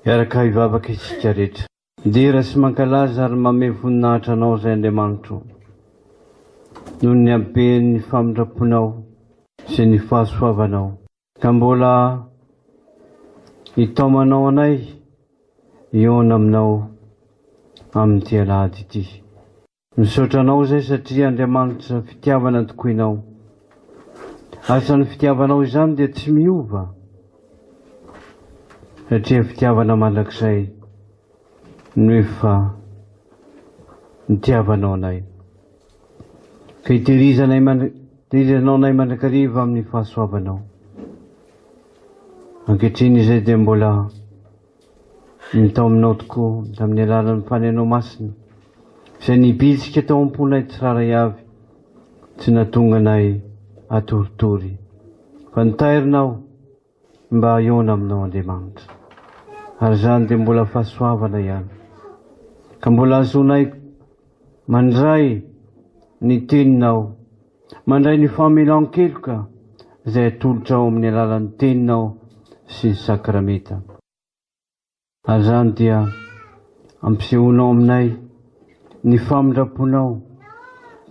Miaraka hivavaka isika rehetra. Midera sy mankalaza ary mamehy voninahitra Anao izay Andriamanitro o. Noho ny haben'ny famindram-ponao sy ny fahasoavanao. Ka mbola hitaomanao anay hihaona aminao amin'ity alahady ity. Misaotra anao izay satria Andriamanitra fitiavana tokoinao. Asan'ny fitiavanao izany dia tsy miova satria fitiavana mandrakizay no efa nitiavanao anay. Ka itehirizanay tehirizanao anay mandrakariva amin'ny fahasoavanao. Ankehitriny izay dia mbola Ny tao aminao tokoa, tamin'ny alalan'ny fanenao masina, izay nibitsika tao am-ponay tsirairay avy, tsy nahatonga anay hatoritory, fa nitairina aho mba hahaona aminao, Andriamanitra, ary izany dia mbola fahasoavana ihany, ka mbola hahazoanay mandray ny Teninao. Mandray ny famelan-keloka izay atolotrao amin'ny alalan'ny Teninao sy ny Sakramenta. Ary izany dia ampisehoanao aminay ny famindram-ponao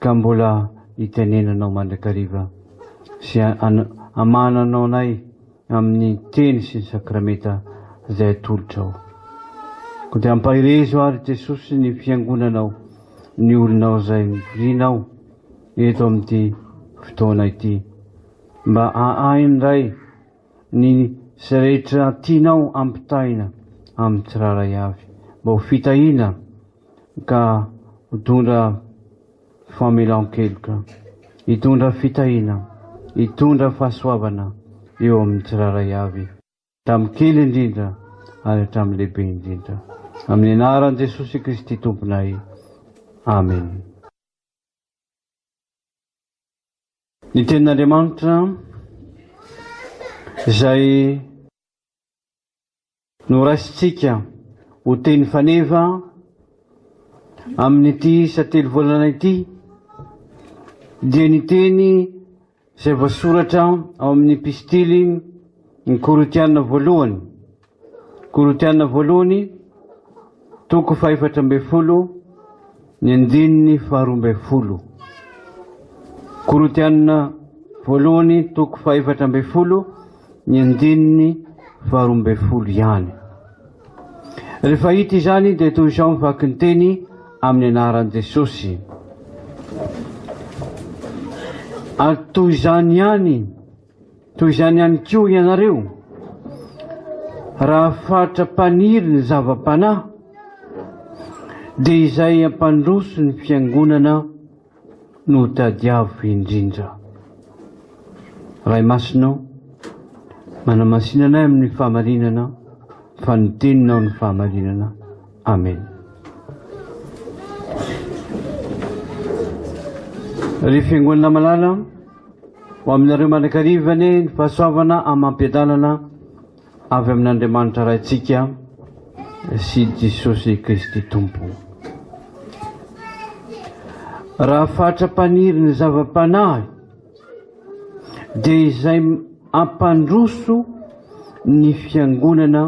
ka mbola hitenenanao mandrakariva sy hamahananao anay amin'ny Teny sy ny Sakramenta izay atolotrao. Koa dia ampahirezo àry Jesosy ny Fiangonanao, ny olonao izay mivoriana ao. eto amin'ity fotoana ity mba hahay indray ny izay rehetra tianao ampitaina amin'ny tsirairay avy mba ho fitahiana ka hitondra famelan-keloka, hitondra fitahiana, hitondra fahasoavana eo amin'ny tsirairay avy hatramin'ny kely indrindra ary hatramin'ny lehibe indrindra amin'ny anaran'i Jesosy Kristy Tomponay, amena. Ny tenin'Andriamanitra izay noraisintsika ho teny faneva amin'ity isa telo volana ity dia ny teny izay voasoratra ao amin'ny epistily ny Korintiana voalohany, Korintiana voalohany, toko fahefatra ambin'ny folo, ny andininy faharoa ambin'ny folo. Korintiana voalohany, toko fahefatra ambin'ny folo, ny andininy faharoa ambin'ny folo ihany. Rehefa hita izany dia toy izao ny vaky ny teny amin'ny anaran'i Jesosy. Ary toy izany ihany, toy izany ihany koa ianareo, raha fatra-paniry ny zava-panahy, dia izay hampandroso ny fiangonana, no tadiavo indrindra. Ray Masina o, manamasina anay amin'ny fahamarinana, fa ny teninao ny fahamarinana. Amen. Ry fiangonana malala, ho aminareo mandrakariva anie ny fahasoavana amam-piadanana Avy amin'Andriamanitra Raintsika sy Jesosy Kristy Tompo. Raha fatra-paniry ny zava-panahy, dia izay ampandroso ny fiangonana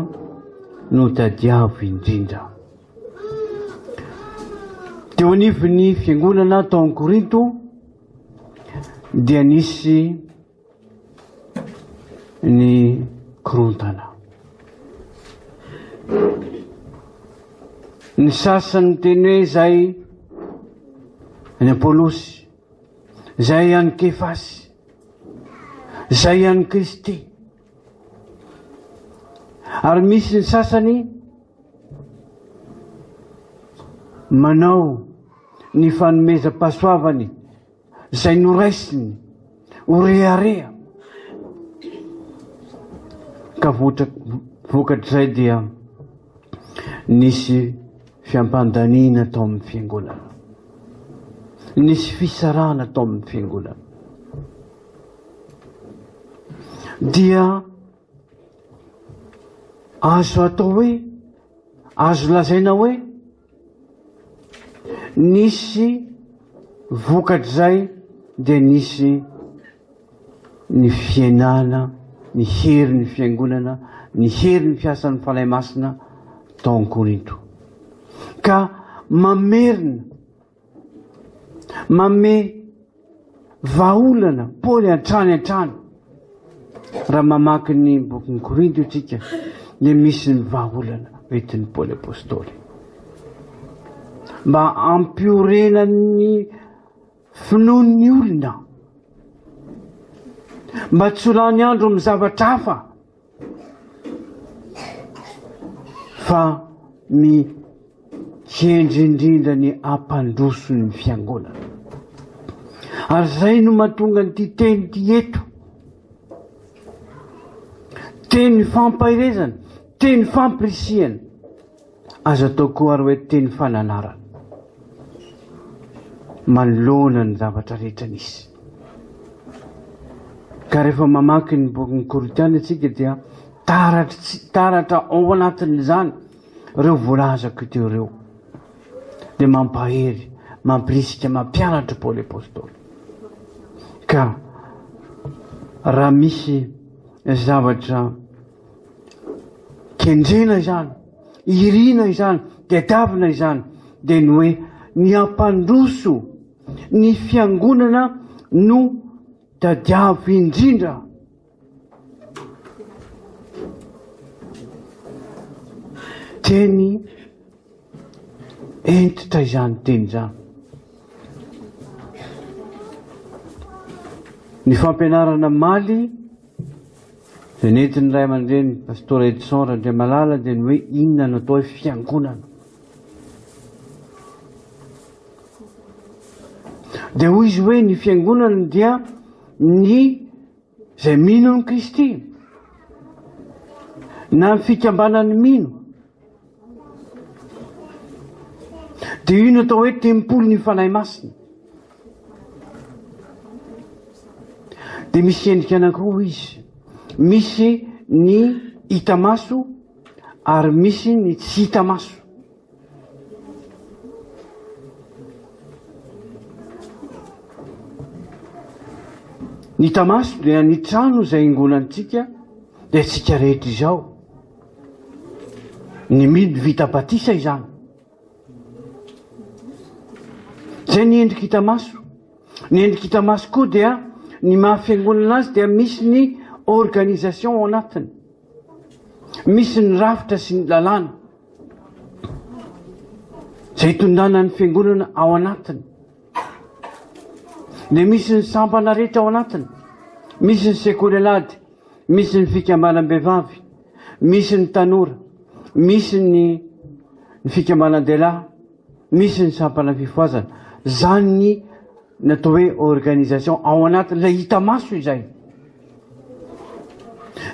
no tadiavo indrindra. Teo anivon'ny fiangonana tao Korinto dia nisy ny korontana. Ny sasany teny hoe izay any Apolosy, izay any Kefasy, izay any Kristy. Ary misy ny sasany manao ny fanomezam-pahasoavany izay noraisiny ho rehareha, ka vokatr'izay dia nisy fiampandaniana tao amin'ny fiangonana, nisy fisarahana tao amin'ny fiangonana. Dia azo atao hoe azo lazaina hoe Nisy vokatr'izay dia nisy ny fiainana, ny herin'ny fiangonana, ny herin'ny fiasan'ny Fanahy Masina tao Korinto. Ka mamerina Manome vahaolana Paoly hatrany hatrany. Raha mamaky ny bokin'ny Korinto isika, dia misy ny vahaolana entin'i Paoly Apôstôly. Mba hampiorenan'ny finoan'ny olona, mba tsy ho lany andro amin'ny zavatra hafa. Fa ny hendry indrindra ny ampandroso ny fiangonana. Ary izay no mahatonga an'ity teny ity eto. Teny fampaherezana, teny fampirisihana. Azo atao koa ary hoe teny fananarana manoloana ny zavatra rehetra nisy. Ka rehefa mamaky ny bokin'ny Korintiana isika dia taratra ao anatin'izany ireo voalazako teo ireo. Dia mampahery, mampirisika, mampianatra Paoly Apostoly. Ka raha misy zavatra Kendrena izany, irina izany, tadiavina izany, dia ny hoe ny hampandroso ny fiangonana no tadiavo indrindra. Teny Hentitra izany teny izany. Ny fampianarana maly dia nentin'ny ray aman-dreny Pastora Edson Randriamalala dia ny hoe inona no atao hoe fiangonana. Dia hoy izy hoe ny fiangonana dia ny Izay mino an'i Kristy, na ny fikambanan'ny mino, dia io no atao hoe tempolin'ny Fanahy Masina. Dia misy endrika anankiroa izy. Misy ny hita maso ary misy ny tsy hita maso. Ny hita maso dia ny trano izay ingonantsika dia antsika rehetra izao. Ny mino vita batisa izany. Izay ny endrika hita maso. Ny endrika hita maso koa dia ny maha fiangonana azy dia misy ny organisation ao anatiny. Misy ny rafitra sy ny lalàna. izay hitondrana ny fiangonana ao anatiny, dia misy ny sampana rehetra ao anatiny, misy ny sekoly alady, misy ny fikambanam-behivavy, misy ny tanora, misy ny ny fikambanan-dehilahy, misy ny sampana fifohazana. Izany ny natao hoe organisation ao anatin'ilay hita maso izay.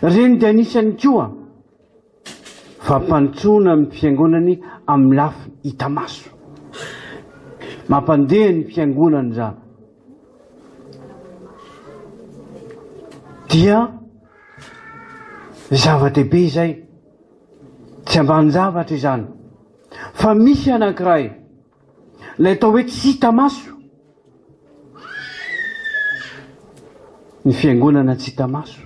Ireny dia anisany koa Fampandrosoana ny fiangonany amin'ny lafiny hita maso. Mampandeha ny fiangonana izany. Dia zava-dehibe izay. Tsy ambanin-javatra izany. Fa misy anankiray. Ilay atao hoe tsy hita maso. Ny fiangonana tsy hita maso.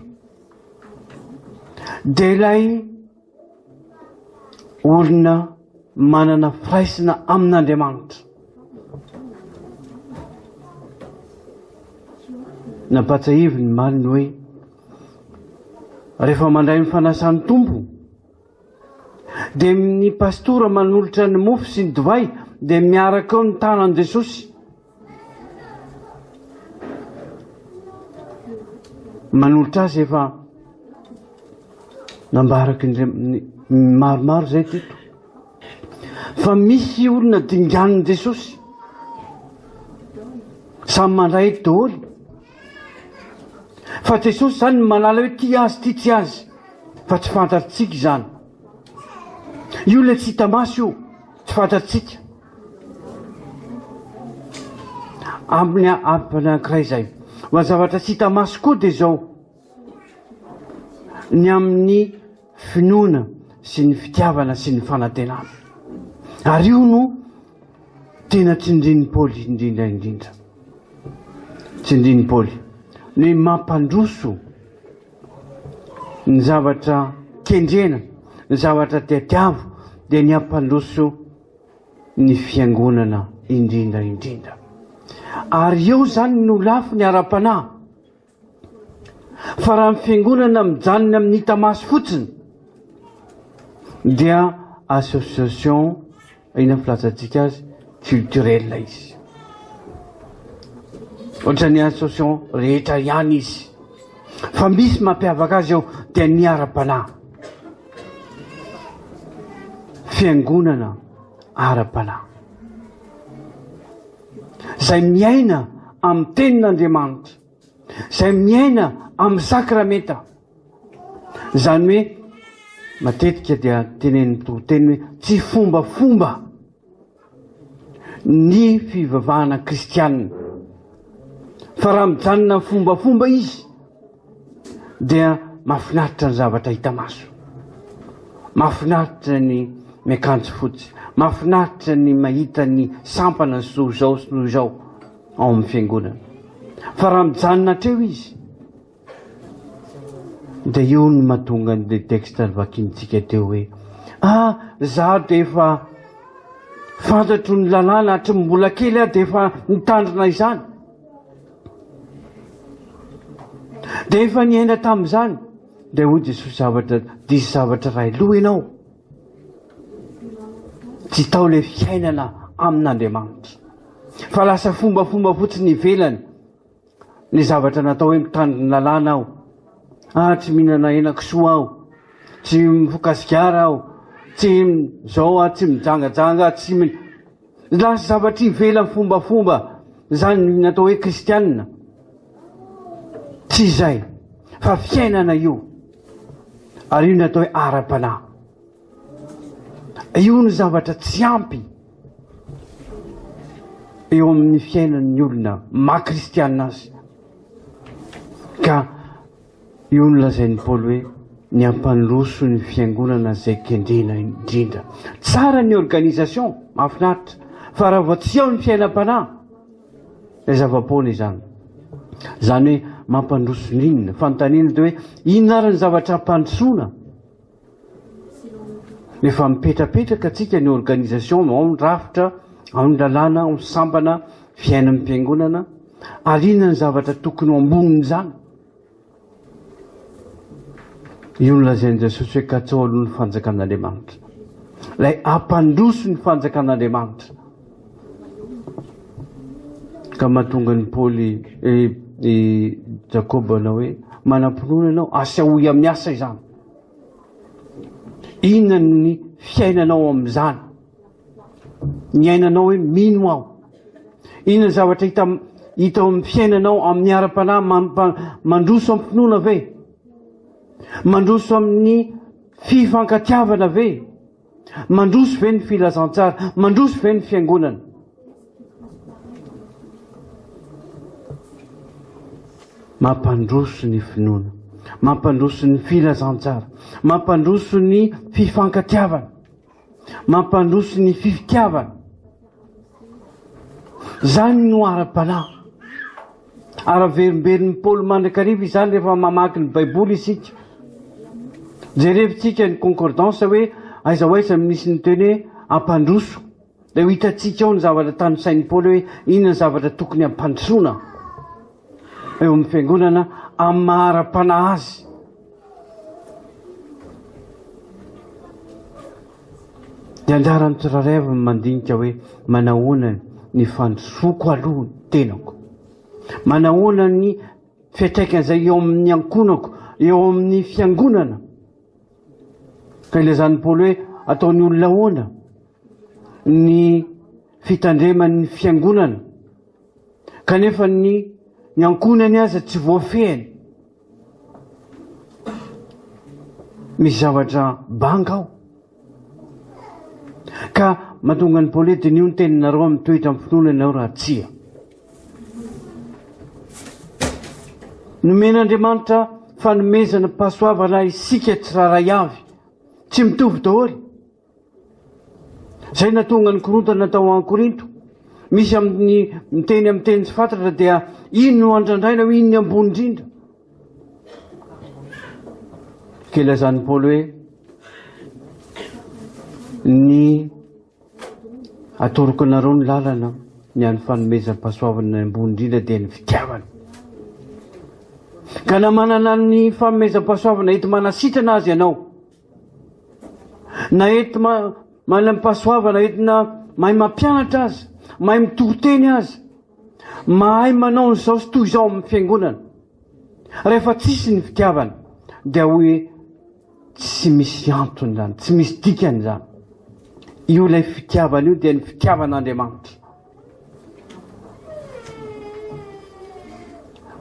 Dia ilay olona manana firaisana amin'Andriamanitra. Nampatsahivy ny maliny hoe rehefa mandray ny fanasan'ny Tompo Dia ny pastora manolotra ny mofo sy ny divay dia miaraka eo ny tanan'i Jesosy. Manolotra azy efa nambaraky ny maromaro izay teto. Fa misy olona dinganin'i Jesosy. Samy mandray daholo. Fa Jesosy izany no manala hoe tia azy tia tsy azy fa tsy fantatrtsika izany. Io le tsy hita maso io, tsy fantatrtsika. Amin'ny amin'ny ankiray izay. Ho zavatra tsy hita maso koa dia izao. ny amin'ny finoana sy ny fitiavana sy ny fanantenana. Ary io no tena tsindrin'i Paoly indrindra indrindra. Tsindrin'i Paoly. Ny mampandroso ny zavatra kendrena, ny zavatra tetiavo, dia ny hampandroso ny fiangonana indrindra indrindra. Ary eo zany no lafiny ara-panahy. Fa raha ny fiangonana mijanona amin'ny hita maso fotsiny dia association, inona ny filazantsika azy, culturelle izy. Ohatran'ny association rehetra ihany izy. Fa misy mampiavaka azy eo dia ny ara-panahy. Fiangonana ara-panahy. izay miaina amin'ny tenin'Andriamanitra, izay miaina amin'ny sakramenta. Izany hoe matetika dia tenenin'ny mpitoriteny hoe tsy fombafomba ny fivavahana kristianina. Fa raha mijanona amin'ny fombafomba izy, dia mahafinaritra ny zavatra hita maso. Mahafinaritra ny miakanjo fotsy. Mahafinaritra ny mahita ny sampana sy noho izao sy noho izao ao amin'ny fiangonana. Fa raha mijanona hatreo izy, dia io no mahatonga ny texte vakintsika teo hoe ah za dia efa fantatro ny lalàna hatry ny mbola kely aho dia efa nitandrina izany. Dia efa niaina tamin'izany, dia hoy Jesosy zavatra, diso zavatra iray loha ianao. Tsy tao ilay fiainana amin'Andriamanitra. Fa lasa fombafomba fotsiny ivelany ny zavatra natao hoe mitandrina ny lalàna aho. Ah, tsy mihinana henakisoa aho. Tsy mifoka sigara aho. Tsy izao aho, tsy mijangajanga, tsy Lasa zavatra ivelan'ny fombafomba izany ny atao hoe kristianina. Tsy izay, fa fiainana io. Ary io ny atao hoe ara-panahy. Io ny zavatra tsy ampy eo amin'ny fiainan'ny olona maha-kristianina azy. Ka Io no lazain'i Paoly hoe ny hampandroso ny fiangonana izay kendrena indrindra. Tsara ny organisation, mahafinaritra, fa raha vao tsy ao ny fiainam-panahy, dia zava-poana izany. Izany hoe mampandroso n'inona? Fanontaniana dia hoe inona ary ny zavatra hampandrosoana? Efa mipetrapetraka antsika ny organisation ao ny rafitra, ao ny lalàna, ao ny sambana, fiainan'ny mpiangonana ary inona ny zavatra tokony ho ambonin'izany? Io ny lazain'i Jesosy hoe katsaholo ny fanjakan'Andriamanitra. Ilay ampandroso ny fanjakan'Andriamanitra. Ka mahatonga ny Paoly eh, i Jakoba anao hoe manam-pinoana ianao, asehoy amin'ny asa izany. Inona ny fiainanao amin'izany? Niainanao hoe mino aho. Inona ny zavatra hita hita ao amin'ny fiainanao amin'ny ara-panahy mandroso am-pinoana ve? Mandroso amin'ny fifankatiavana ve? Mandroso ve ny filazantsara? Mandroso ve ny fiangonana? Mampandroso ny finoana, mampandroso ny filazantsara, mampandroso ny fifankatiavana, mampandroso ny fifitiavana. Zany no ara-panahy. Ary averimbenin'i Paoly mandrakariva izany rehefa mamaky ny Baiboly isika. Jerevintsika ny concordance hoe aiza ho aiza no nisy ny teny hoe hampandroso, dia ho hitantsika ao ny zavatra tanisain'i Paoly hoe inona ny zavatra tokony hampandrosoana eo amin'ny fiangonana amin'ny maha ara-panahy azy. Dia anjaran'ny tsirairay avy ny mandinika hoe manahoana ny fandrosoako aloha ny tenako. Manahoana ny fiatraikan'izay eo amin'ny ankonako, eo amin'ny fiangonana. Ka ilazan'ny Paoly hoe ataon'ny olona ahoana ny fitandreman'ny fiangonana kanefa ny ny ankonany aza tsy voafehiny. Misy zavatra banga ao. Ka mahatonga ny pole dinio ny teninareo amin'ny toetra amin'ny finoana ianao raha tsia. Nomen'Andriamanitra fanomezana pasoavana isika tsirairay avy. Tsy mitovy daholo. Izay nahatonga ny korontana tao Korinto. Misy amin'ny miteny amin'ny teny tsy fatratra dia iny no andrandraina hoe iny ny ambony indrindra. Ke lazan'i Paoly hoe ny atoroko anareo ny lalana ny an'ny fanomezam-pahasoavana ny ambony indrindra dia ny fitiavana. Ka na manana ny fanomezam-pahasoavana ety manasitrana azy ianao, Na ety manam-pahasoavana entina mahay mampianatra aza, mahay mitory teny aza, mahay manao izao sy toy izao amin'ny fiangonana. Rehefa tsisy ny fitiavana dia hoe tsy misy antony izany, tsy misy dikany izany. Io ilay fitiavana io dia ny fitiavan'Andriamanitra.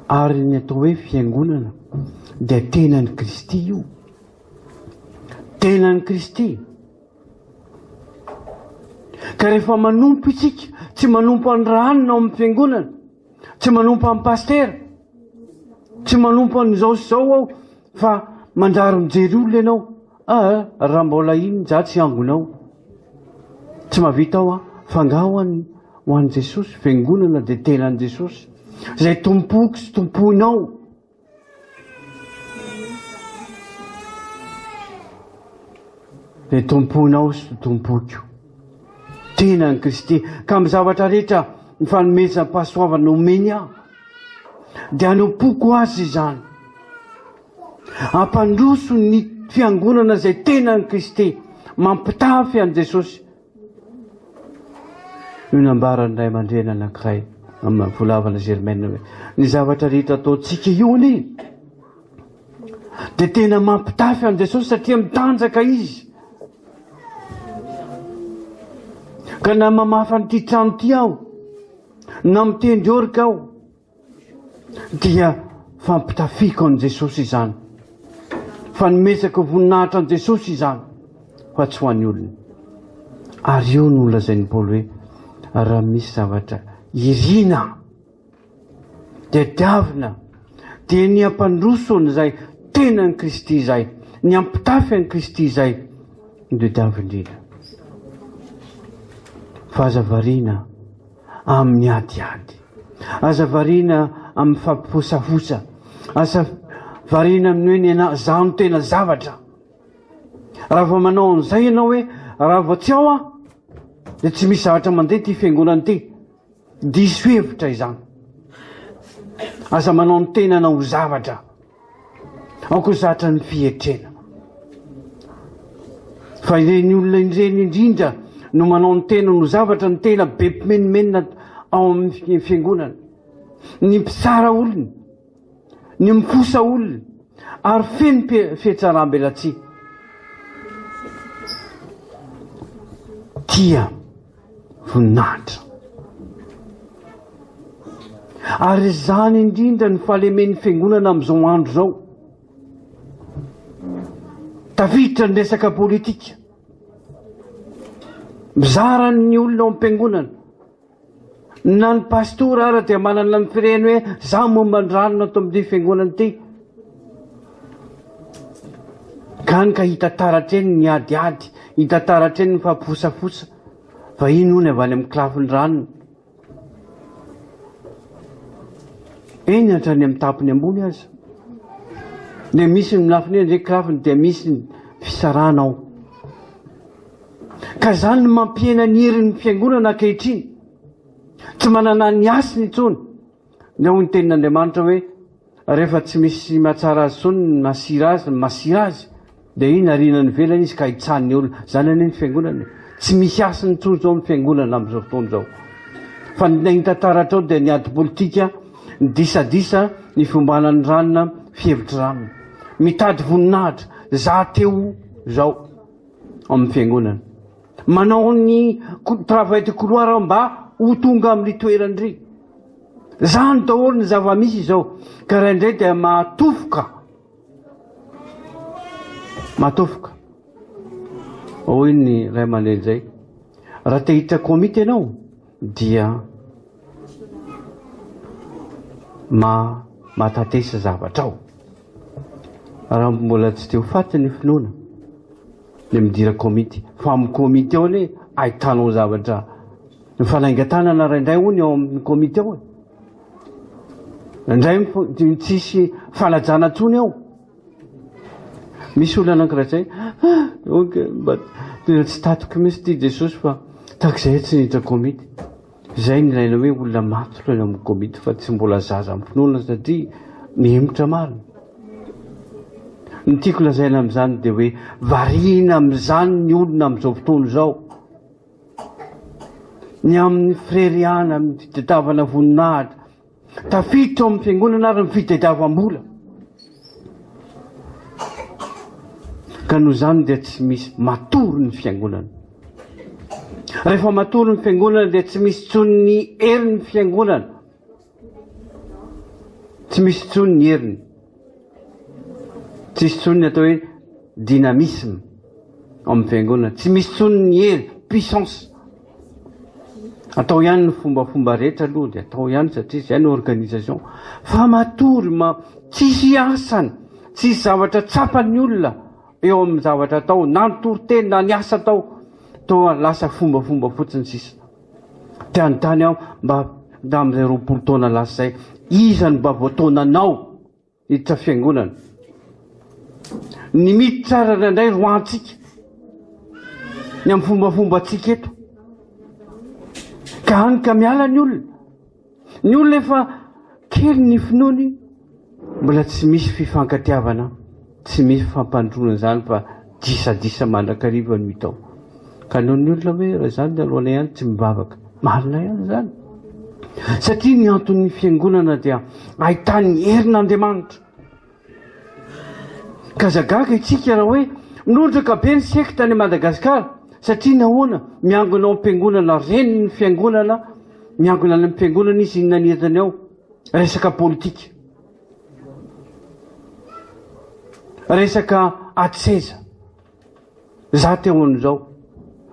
Ary ny atao hoe fiangonana dia tenan'i Kristy io. Tenan'i Kristy. Ka rehefa manompo isika, tsy manompo an'ny rahanina ao amin'ny fiangonana, Tsy manompo amin'ny pasitera. Tsy manompo an'izao sy izao aho fa manjary mijery olona ianao. Ah, ah raha mbola iny za tsy hangonao. Tsy mahavita aho ah, fa nga ho an'i ho an'i Jesosy, fiangonana dia tenan'i Jesosy. Izay tompoko sy tompoinao. dia tomponao sy tompoko tena ny Kristy ka amin'ny zavatra rehetra ny fanomezam-pahasoavana omeny aho dia anompoko azy izany ampandroso ny fiangonana izay tena ny Kristy mampitafy an'i Jesosy Io nambaran'ny ray aman-dreny anankiray amin'ny volavana Germaine hoe ny zavatra rehetra ataontsika io anie dia tena mampitafy an'i Jesosy satria mitanjaka izy. Ka na mamafa an'ity trano ity aho, na mitendry orika aho, Dia fampitafiako an'i Jesosy izany. Fanomezako voninahitra an'i Jesosy izany fa tsy ho an'ny olona. Ary io no lazain'i Paoly hoe raha misy zavatra iriana dia diavina dia ny hampandroso an'izay tena an'i Kristy izay, ny hampitafy an'i Kristy izay no dia diavina indrindra. Fa aza variana. amin'ny adiady. Aza variana amin'ny fampifosafosa. Aza variana amin'ny hoe ny anà izaho no tena zavatra. Raha vao manao an'izay ianao hoe raha vao tsy ao aho dia tsy misy zavatra mandeha ity fiangonana ity. Diso hevitra izany. Aza manao ny tenanao ho zavatra. Aoka zatra ny fietrena fa ireny olona ireny indrindra no manao ny tena no zavatra ny tena be mpimenomenona ao amin'ny fiangonana ny mpitsara olona ny mifosa olona ary feno fihetsaram-belatsihy tia voninahitra. Ary izany indrindra ny fahalemen'ny fiangonana amin'izao andro izao. Tafiditra ny resaka politika. Mizara ny olona ao am-piangonana. Na ny pastora ara dia manana ny fireny hoe za momba ny rano ato amin'ny fiangonana ity. Gany ka hita taratra eny ny adiady, hita taratra eny ny faham-posafosa. Vahiny hono avy any amin'ny kilafin'ny ranony. Eny hatrany amin'ny tapony ambony aza. Dia misy ny lafiny eny kilafiny dia misy ny fisarana ao. Ka izany no mampihena ny herin'ny fiangonana ankehitriny. Tsy manana ny hasiny intsony. Ny hoy ny tenin'Andriamanitra hoe, Rehefa tsy misy mahatsara azy intsony ny masira azy, ny masira azy, dia iny ariana any ivelany izy ka hitsahan'ny olona. Izany anie ny fiangonana e. Tsy misy hasiny intsony izao ny fiangonana amin'izao fotoana izao. Fa ny hita taratrao dia ny ady politika, ny disadisa, ny fiombanan'ny ranona, fihevitry ranona. Mitady voninahitra, za teo izao amin'ny fiangonana. Manao ny travail de couloir aho mba ho tonga amin'ry toerany ry. Izany daholo ny zava-misy izao ka raha indray dia mahatofoka. Mahatofoka. Hoy ny ray aman-dreny izay. Raha te hiditra komity ianao dia ma matatesa zavatrao. Raha mbola tsy te ho faty ny finoana dia midira komity. Fa amin'ny komity ao anie ahitanao zavatra Mifanaingan-tanana raindray hono eo amin'ny komity eo e. Indray tsisy fanajana intsony eo. Misy olona anankiray zay, ah, ok, mba tena tsy tatoky mihitsy ity Jesosy fa takizay tsy niditra komity. Izay ny ilaina hoe olona matotra eo amin'ny komity fa tsy mbola zaza amin'ny finoana satria mihemotra marina. Ny tiako lazaina amin'izany dia hoe variana amin'izany ny olona amin'izao fotoana izao. ny amin'ny fireriana, amin'ny fitadiavana voninahitra, tafiditra ao amin'ny fiangonana ary ny fitadiavam-bola. Ka noho izany dia tsy misy matory ny fiangonana. Rehefa matory ny fiangonana dia tsy misy tsony ny herin'ny fiangonana. Tsy misy intsony ny heriny. Tsisy intsony ny atao hoe dynamisme ao amin'ny fiangonana. Tsy misy intsony ny hery, puissance. Atao ihany ny fombafomba rehetra aloha dia atao ihany satria izay ny organisation. Fa matory ma tsisy asany, tsisy zavatra tsapan'ny olona eo amin'ny zavatra atao, na ny toriteny na ny asa atao, toa lasa fombafomba fotsiny sisa. Te hanontany aho mba tamin'izay roapolo taona lasa izay, iza no mba voataonanao hiditra fiangonana? Ny miditra ary indraindray roahantsika ny amin'ny fombafombantsika eto. Ka hany ka miala ny olona. Ny olona efa kely ny finoany mbola tsy misy fifankatiavana, tsy misy fampandroana izany fa disadisa mandrakariva no hita ao. Ka noho ny olona hoe raha izany ny aloana ihany tsy mivavaka. Marina ihany izany. Satria ny anton'ny fiangonana dia ahitany herin'Andriamanitra. K'aza gaga itsika raha hoe nondraka be ny sekta any Madagasikara satria nahoana miangona ao am-piangonana renin'ny fiangonana miangona any amin'ny fiangonana izy inona ny entiny ao? resaka politika resaka ady seza za te ho an'izao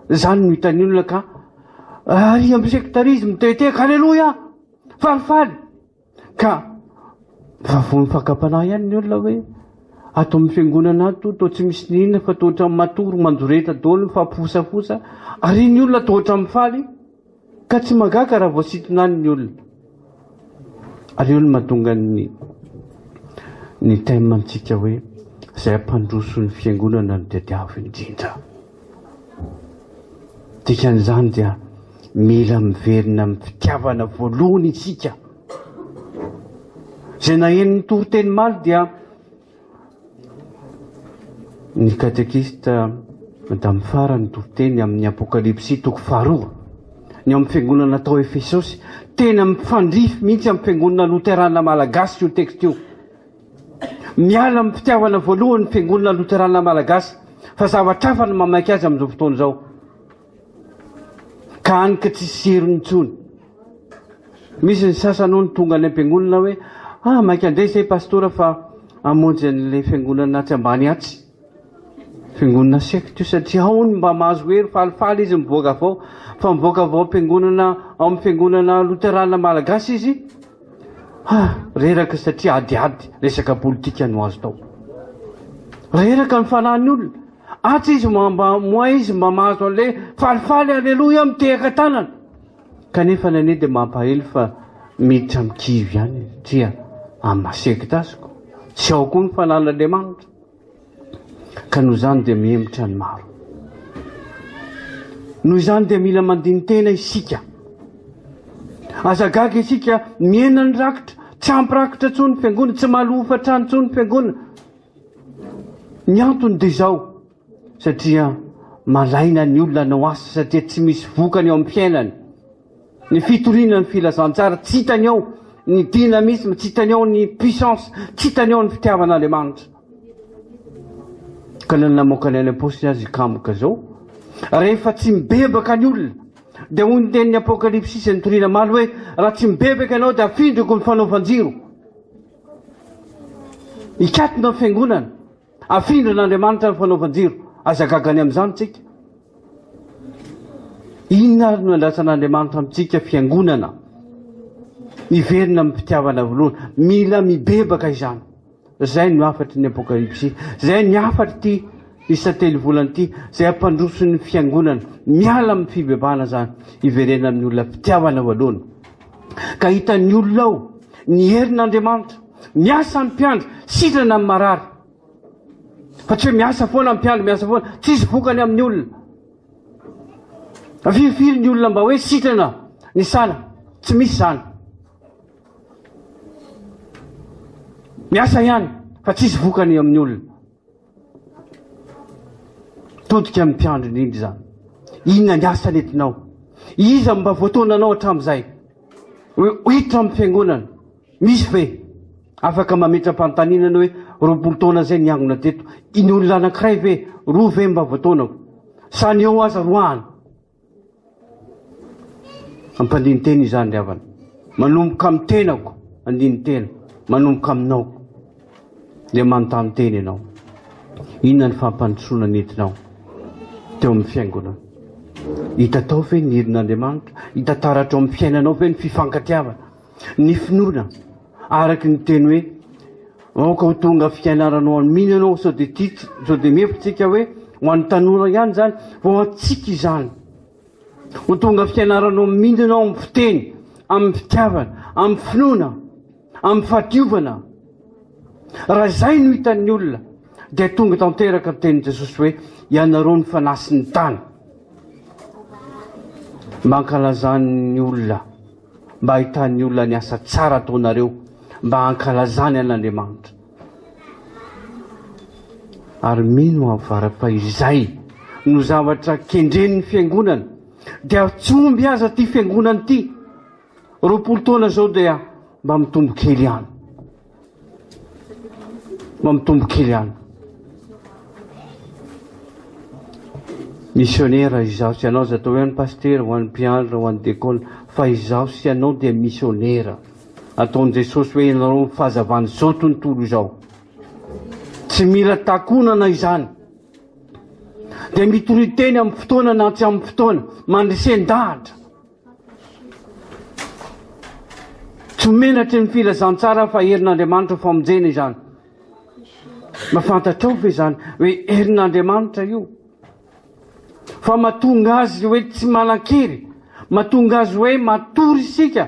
zany no hitan'ny olona ka ary amin'ny sektarisme te hiteka aleloia falifaly Ka raha vao mifankampanahy ihany ny olona hoe ato amin'ny fiangonana ato toa tsy misy n'inona fa toa ohatran'ny matory mandoreta daholo mifampifosafosa ary ny olona toa ohatran'ny faly ka tsy mangaka raha vao sitonany ny olona. Ary eo no mahatonga ny ny thème antsika hoe izay hampandroso ny fiangonana no tadiavo indrindra. Dikan'izany dia mila miverina amin'ny fitiavana voalohany isika. Izay nahenon'ny toriteny maly dia ny katekista Madame Fara ny toriteny amin'ny Apokalypsy toko faharoa. Ny amin'ny fiangonana tao Efesosy, tena mifandrify mihitsy amin'ny fiangonana loterana malagasy io texte io. Miala amin'ny fitiavana voalohany ny Fiangonana Loterana Malagasy fa zavatra hafa no mamaika azy amin'izao fotoana izao ka hany ka tsisy serony intsony. Misy ny sasany hono tonga any am-piangonana hoe ah maika andeha izay Pastora fa hamonjy an'ilay Fiangonana atsy ambany atsy. Fiangonana secte io satria ao ny mba mahazo hery falifaly izy mivoaka avy ao fa mivoaka avy ao am-piangonana ao amin'ny fiangonana loterana malagasy izy ha reraka satria adiady resaka politika no azo tao reraka ny fanahin'ny olona atsy izy mba moa izy mba mahazo an'le falifaly aleloia mitehaka tanana kanefa ny anie dia mampahely fa miditra amin'ny kivy ihany satria amin'ny secte azoko tsy ao koa ny fanan'Andriamanitra Ka noho izany dia mihemotra ny maro. Noho izany dia mila mandini-tena isika. Aza gaga isika miena ny rakitra, tsy ampy rakitra intsony ny fiangonana, tsy mahalò hofantrano intsony ny fiangonana. Ny antony dia izao, satria malaina ny olona hanao asa satria tsy misy vokany eo amin'ny fiainany. Ny fitoriana ny filazantsara, tsy hitany ao ny dynamisme, tsy hitany ao ny puissance, tsy hitany ao ny fitiavan'Andriamanitra. Ka na ny namoaka ny any am-paosiny aza hikamoka izao, rehefa tsy mibebaka ny olona, dia hoy ny tenin'ny Apokalypsy sy ny toriana maro hoe, raha tsy mibebaka ianao dia afindriko ny fanaovan-jiro. Hikatona ny fiangonana. Afindran'Andriamanitra ny fanaovan-jiro. Aza gaga ny amin'izany isika. Inona ary no andrasan'Andriamanitra amintsika fiangonana? Miverina amin'ny fitiavana voalohany. Mila mibebaka izany. Izay no hafatry ny apokalypsy. Izay ny hafatry ity isatelo volana ity. Izay hampandroso ny fiangonana. Miala amin'ny fibebahana izany. Hiverena amin'ny olona fitiavana voalohany. Ka hitan'ny olona ao ny herin'Andriamanitra. Miasa ny mpiandry, sitrana ny marary. Fa tsy hoe miasa foana ny mpiandry, miasa foana, tsisy vokany amin'ny olona. Fa firy firy ny olona mba hoe sitrana ny sala, tsy misy izany. Miasa ihany, fa tsisy vokany amin'ny olona. Todika amin'ny mpiandry indrindra izany. Inona ny asa nentinao? Iza no mba voataonanao hatramin'izay? Hiditra amin'ny fiangonana. Misy ve? Afaka mametra-panontaniana ny hoe, roapolo taona izay niangona teto, ny olona anankiray ve, roa ve mba voataonako? Sa ny eo aza roahany? Ampandinin-tena izany ry havana. Manomboka amin'ny tenako, andinin-tena, manomboka aminao. Dia manontany tena ianao. Inona ny fampandrosoana nentinao teo amin'ny fiangonana? Hita tao ve ny irin'Andriamanitra? Hita taratra ao amin'ny fiainanao ve ny fifankatiavana, ny finoana? Araky ny teny hoe aoka ho tonga fiainarana ho an'ny mino ianao sao dia tia sao dia mefo tsika hoe ho an'ny tanora ihany izany fa ho antsika izany ho tonga fiainarana amin'ny mino ianao amin'ny fiteny amin'ny fitiavana amin'ny finoana amin'ny fahadiovana raha izay no hitan'ny olona dia tonga tanteraka ny tenin'i Jesosy hoe ianareo ny fanahy sy ny tany mankalazan'ny olona mba hahitan'ny olona ny asa tsara ataonareo mba hankalazany an'Andriamanitra. Ary mino aho fa raha izay no zavatra kendren'ny fiangonana dia tsy omby aza ity fiangonana ity. Roapolo taona izao dia mba mitombo kely ihany. Mampitombo kely any. Misionera izaho sy ianao, aza atao hoe an'i pasitera, ho an'ny mpiandry na ho an'ny dekona, fa izaho sy ianao dia misionera. Ataon'i Jesosy hoe ianareo ny fahazavan'izao tontolo izao. Tsy mila takonana izany. Dia mitoriteny amin'ny fotoana na tsy amin'ny fotoana, mandresen-dahatra. Tsy ho menatry ny filazantsara aho fa herin'Andriamanitra famonjena izany. Mba fantatrao ve izany hoe herin'Andriamanitra io? Fa mahatonga azy hoe tsy manan-kery, mahatonga azy hoe matory isika.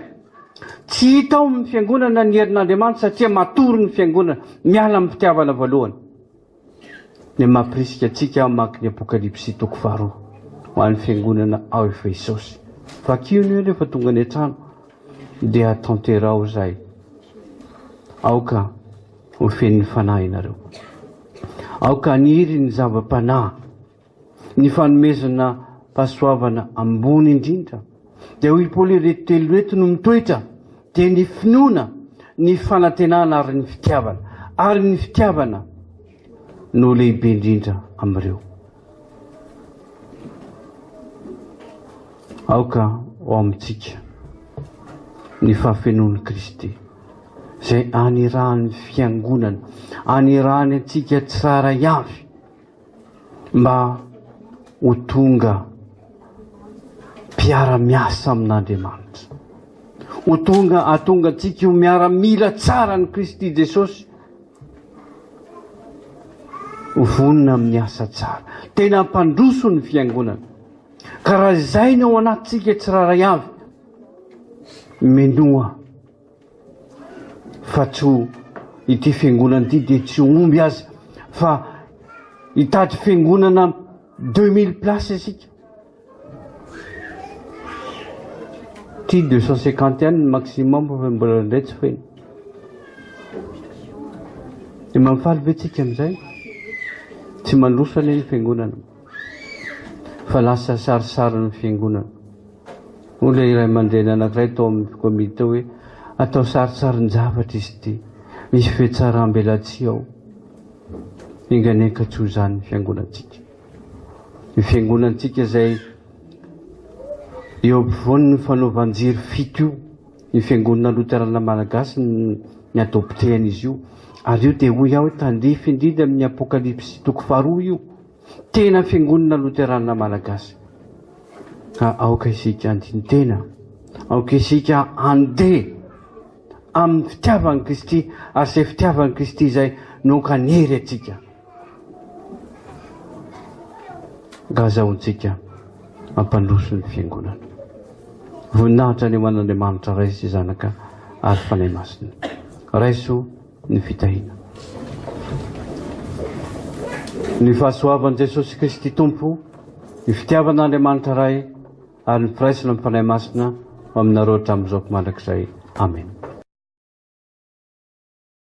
Tsy hita ao amin'ny fiangonana ny herin'Andriamanitra satria matory ny fiangonana, miala amin'ny fitiavana voalohany. Ny mampirisika antsika hamaky ny Apokalypsy toko faharoa ho an'ny fiangonana ao Efesosy. Vakio anio rehefa tonga any an-trano dia tanteraho izay. Aoka ho fenon'ny Fanahy ianareo. Aoka haniry ny zava-panahy Ny fanomezana fahasoavana ambony indrindra dia hoy Paoly ireto telo ireto no mitoetra dia ny finoana, ny fanantenana ary ny fitiavana ary ny fitiavana no lehibe indrindra amin'ireo. Aoka ao amintsika ny fahafenoan'i Kristy izay anirahan'ny fiangonana, anirahany antsika tsara ihany. mba ho tonga mpiara-miasa amin'Andriamanitra, ho tonga hatonga antsika ho miaramila tsara ny Kristy Jesosy, ho vonona amin'ny asa tsara, tena hampandroso ny fiangonana. Ka raha izay ny ao anatintsika tsirairay avy, minoa fa tsy ho ity fiangonana ity dia tsy omby aza fa hitady fiangonana deux mille places isika ty deux cent cinquante ihany ny maximum fa mbola indray tsy feno dia mampifaly ve tsika amin'izay tsy mandroso anie ny fiangonana fa lasa sarisarin'ny fiangonana Hoy ilay ray aman-dreny anankiray tao amin'ny komity tao hoe, Atao sarintsarin-javatra izy ity. Misy fihetsaràm-belatsihy ao. Enganenka tsy ho izany ny fiangonantsika. Ny fiangonantsika izay eo ampovoan'ny fanaovan-jiro fito io, ny Fiangonana Loterana Malagasy ny adoptehan'izy io. Ary io dia hoy aho tandrify indrindra amin'ny Apokalypsy toko faharoa io. Tena Fiangonana Loteranina Malagasy ka aoka isika handini-tena, aoka isika handeha amin'ny fitiavan'i Kristy ary izay fitiavan'i Kristy izay no ankanery antsika. Ka azahoantsika hampandroso ny Fiangonana. Voninahitra ny ho an'Andriamanitra Ray sy Zanaka ary Fanahy Masina. Raiso. ny fitahiana. Ny fahasoavan'i Jesosy Kristy Tompo, ny fitiavan'Andriamanitra Ray ary ny firaisana amin'ny Fanahy Masina ho aminareo hatramin'izao ko mandrakizay. Amena.